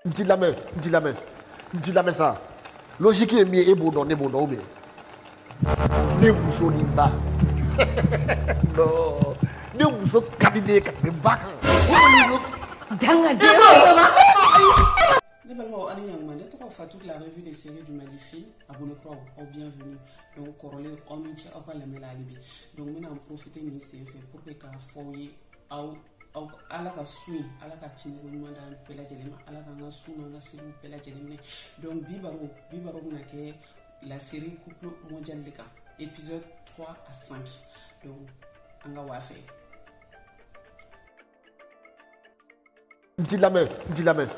n t'i lamɛn n t'i lamɛn n t'i lamɛn sa logique ye min ye e b'o dɔn ne b'o dɔn ou bien ne muso ni ba non ne muso ka di ne ye ka tɛmɛ ba kan dangaden ne balimaw aw ni ɲantuma ne tɔgɔ fatu de la revue des séries du magnifique abonné kuraw aw bienvenue donc kɔrɔlen aw ni ce aw ka lamɛn la hali bi donc n bɛna n profiter nin sen fɛ pour que k'a fɔ aw ye aw aw ala ka sun in ala ka tɛmɛko ɲuman d'an bɛɛ lajɛlen ma ala k'an ka sun n'an ka seliw bɛɛ lajɛlen minɛ donc bi baro bi baro bɛna kɛ la série couple mondial de kan épisode 3 à 5 donc an ka waa fɛ n t'i lamɛn n t'i lamɛn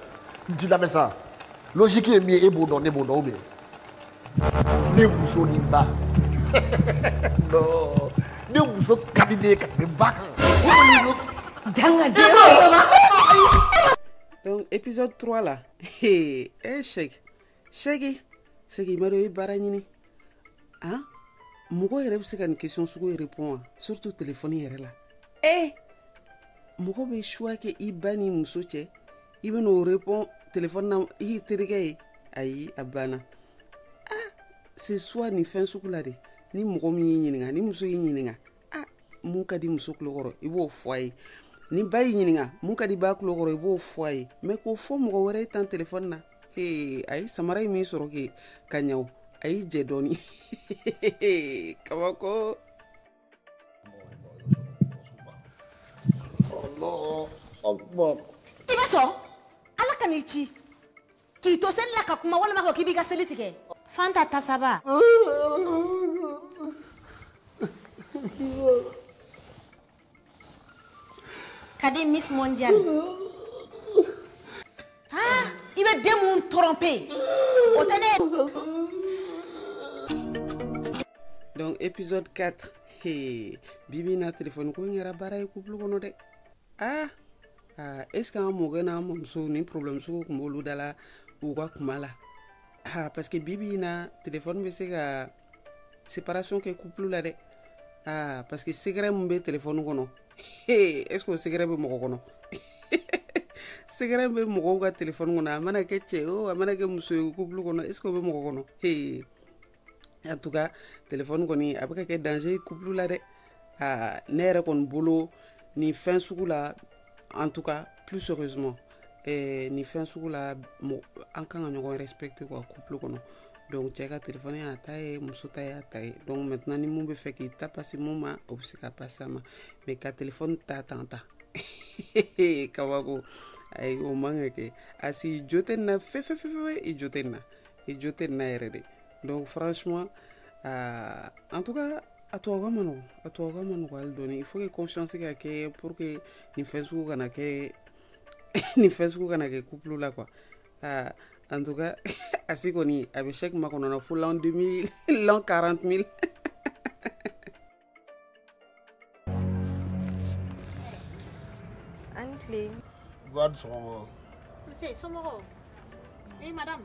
n t'i lamɛn sa logique ye min ye e b'o dɔn ne b'o dɔn ou bien ne muso ni ba non ne muso ka di ne ye ka tɛmɛ ba kan dangaden donc épisode 3 la e sɛki sɛki sɛki i ma dɔ i baara ɲini a mɔgɔ yɛrɛ bɛ se ka nin question sugu in répond wa surtout téléphone yɛrɛ la ee mɔgɔ bɛ choix kɛ i ba ni muso cɛ i bɛn'o répond téléphone na i terikɛ ye ayi a banna a se choix nin fɛn sugu la de ni mɔgɔ min y'i ɲininka ni muso y'i ɲininka a mun ka di muso tulo kɔrɔ i b'o fɔ a ye ni ba y'i ɲininka mun ka di ba tulo kɔrɔ i b'o fɔ a ye mais k'o fɔ mɔgɔ wɛrɛ ye tan téléphone na ee a ye samara ye min sɔrɔ kɛ ka ɲaw a y'i jɛ dɔɔni kabako i bɛ sɔn ala kan'i ci k'i to seli la ka kuma walima ko k'i b'i ka seli tigɛ fanta tasaba kadi miss mondial ah i bɛ den mun tromper o tɛ ne donc épisode 4 he bibi na téléphone ko in kɛra baara ye couple kɔnɔ dɛ ah ah est ce que an mɔkɛ n'an mɔmuso nin problème sugu kun b'olu da la u ka kuma la ah parce que bibi na téléphone bɛ se ka séparation kɛ couple la dɛ ah parce que secret mun bɛ téléphone kɔnɔ est ce que o secret bɛ mɔgɔ kɔnɔ secret bɛ mɔgɔw ka téléphone kɔnɔ a mana kɛ cɛ o a mana kɛ muso ye couple kɔnɔ est ce que o bɛ mɔgɔ kɔnɔ en tout cas téléphone kɔni a bɛ ka kɛ danger ye couple la dɛ aa ne yɛrɛ kɔni bolo nin fɛn sugu la en tout cas plus sérieusement eh, nin fɛn sugu la an kan ka ɲɔgɔn respecté quoi couple kɔnɔ donc cɛ ka telefɔni y'a ta ye muso ta y'a ta ye donc maintenant ni min b'a fɛ k'i ta passer min ma o bɛ se k'a passer a ma mais ka telefɔni ta tan ta kabako ayi o man ka kɛ Asi jo tɛ nin na fefefefe i jo tɛ nin na i jo tɛ nin na yɛrɛ de donc franchement uh, en tout cas a tɔgɔ ka man nɔgɔ a tɔgɔ ka man nɔgɔ hali dɔɔni il faut que confiance ka kɛ pour que nin fɛn sugu kana kɛ nin fɛn sugu kana kɛ couple la quoi aa en tout cas Asi kɔni a bɛ Cheick makɔnɔ na fo l'an 2000 l'an 40 000 an ni tile Ba ni sɔgɔma. Nse somɔgɔw. Eh madame.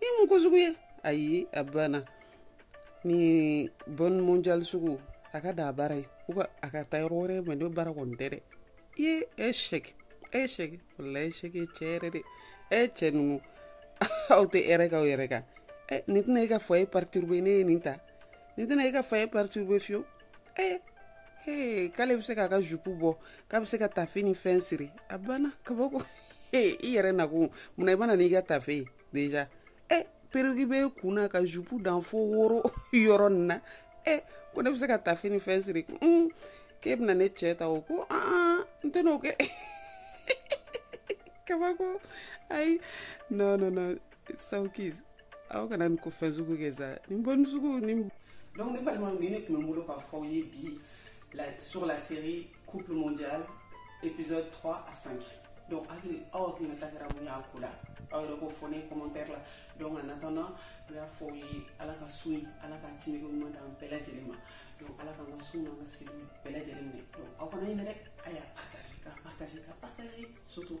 nin mun ko sugu ye ayi a banna nin bɔn mondial sugu a ka dan a bara yen u ka a ka taa yɔrɔ wɛrɛ mais ne bara kɔni tɛ dɛ i ye e Cheick e Cheick walayi e Cheick cɛ yɛrɛ de e cɛ ninnu aw tɛ hɛrɛ k'aw yɛrɛ kan nin tɛna e ka foyer perturbé ne ye nin ta nin tɛna e ka foyer perturbé fiyewu ee ee k'ale bɛ se k'a ka jupu bɔ k'a bɛ se ka tafe ni fɛn siri a banna kabako ee i yɛrɛ nakun munna i ma na n'i ka tafe ye déjà ee perruque bɛ kun na ka jupu dan fo woro yɔrɔ nin na ee ko ne bɛ se ka tafe ni fɛn siri un k'e bɛna ne cɛ ta o ko aa n tɛn'o kɛ kabako ayi non non non saw ki aw kana nin ko fɛn sugu kɛ sa nin bɔn sugu nin donc ne balimaw nin de tun bɛ n bolo k'a fɔ aw ye bi la sur la série couple mondial épisode 3 à 5 donc hakili aw hakilina ta kɛra mun y'a ko la aw yɛrɛ k'o fɔ ne commentaire la donc en attendant n y'a fɔ aw ye ala ka sun in ala ka timiko ɲuman d'an bɛɛ lajɛlen ma donc ala k'an ka sun n'an ka seli bɛɛ lajɛlen minɛ donc aw kana ɲinɛ dɛ a y'a partager k'a partager k'a partager surtout